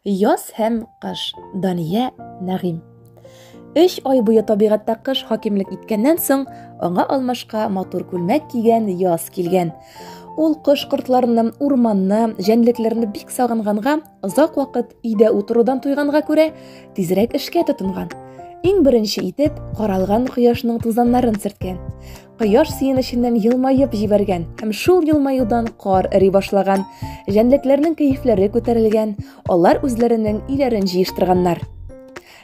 Яз һәм кыш. Дания Нәгыйм. Өч ай буе табигатьтә кыш хакимлек иткәннән соң, аңа алмашка матур күлмәк кигән яз килгән. Ул кош кортларны, урманны, җәнлекләрне бик сагынганга, озак вакыт өйдә утырудан туйганга күрә, тизрәк эшкә тотынган. Иң беренче итеп, каралган кояшның тузаннарын сөрткән. Кояш сөенеченнән елмаеп җибәргән һәм шул елмаюдан кар эри башлаган. Җәнлекләрнең кәефләре күтәрелгән, алар үзләренең өйләрен җыештырганнар.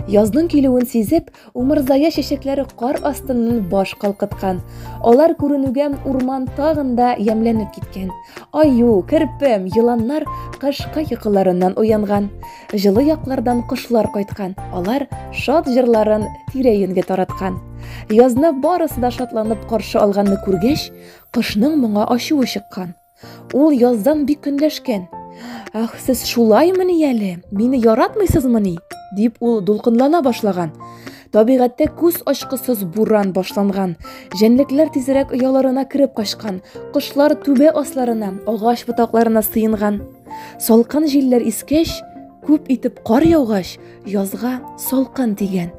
Язның килүен сизеп, умырзая чәчәкләре кар астыннан баш калкыткан. Алар күренүгә урман тагын да ямьләнеп киткән. Аю, керпем, еланнар кышкы йокыларыннан уянган. Җылы яклардан кошлар кайткан, алар шат җырларын тирә-юньгә тараткан. Язны барысы да шатланып каршы алганны күргәч, кошның моңа ачуы чыккан. Ул яздан бик көнләшкән. Ах, сез шулаймыни әле? Мине яратмыйсызмыни? дип ул дулкынлана башлаган. Табигатьтә күз ачкысыз буран башланган. Җәнлекләр тизрәк ояларына кереп качкан, кошлар түбә асларына, агач ботакларына сыенган. Салкын җилләр искәч, күп итеп кар яугач, язга салкын дигән.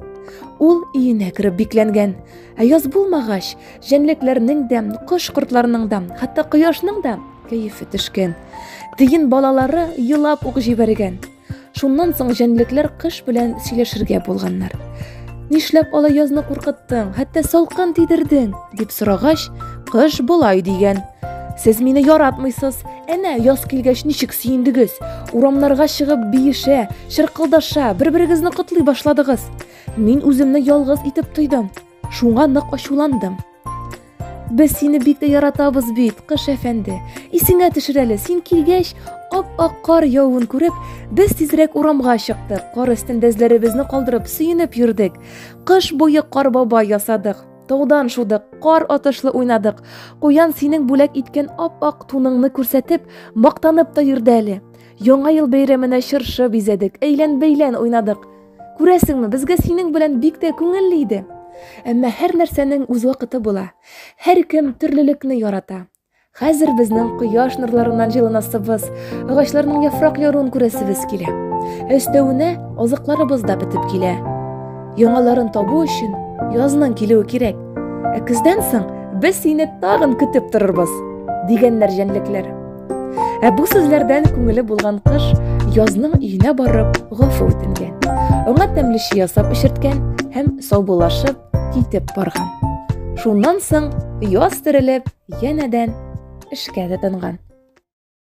Ул иенә кереп бикләнгән. Ә яз булмагач, җәнлекләрнең дә, кош-кортларның да, хәтта кояшның да кәефе төшкән. Тиен балалары елап ук җибәргән. Шуннан соң җәнлекләр кыш белән сөйләшергә булганнар. Нишләп алай язны куркыттың, хәтта салкын тидердең? дип сорагач, кыш болай дигән. Сез мине яратмыйсыз. Әнә яз килгәч ничек сөендегез? Урамнарга чыгып биешә, чыркылдаша, бер-берегезне котлый башладыгыз. Мин үземне ялгыз итеп тойдым. Шуңа нык ачуландым. Без сине бик тә яратабыз бит, кыш әфәнде. Исеңә төшер әле, син килгәч, ап-ак кар явуын күреп, без тизрәк урамга чыктык. Кар өстендә эзләребезне калдырып, сөенеп йөрдек. Кыш буе кар баба ясадык. Таудан шудык, кар атышлы уйнадык. Куян синең бүләк иткән ап-ак туныңны күрсәтеп, мактанып та йөрде әле. Яңа ел бәйрәменә чыршы бизәдек, әйлән-бәйлән уйнадык. Күрәсеңме, безгә синең белән бик тә күңелле иде. Әмма һәр нәрсәнең үз вакыты була. Һәркем төрлелекне ярата. Хәзер безнең кояш нурларыннан җылынасыбыз, агачларның яфрак яруын күрәсебез килә. Өстәвенә азыкларыбыз да бетеп килә. Яңаларын табу өчен язның килүе кирәк. Ә көздән соң без сине тагын көтеп торырбыз, дигәннәр җәнлекләр. Ә бу сүзләрдән күңеле булган кыш язның өенә барып гафу үтенгән. Аңа тәмле чи ясап эчерткән һәм саубуллашып китеп барган. Шуннан соң яз терелеп, янәдән эшкә тотынган.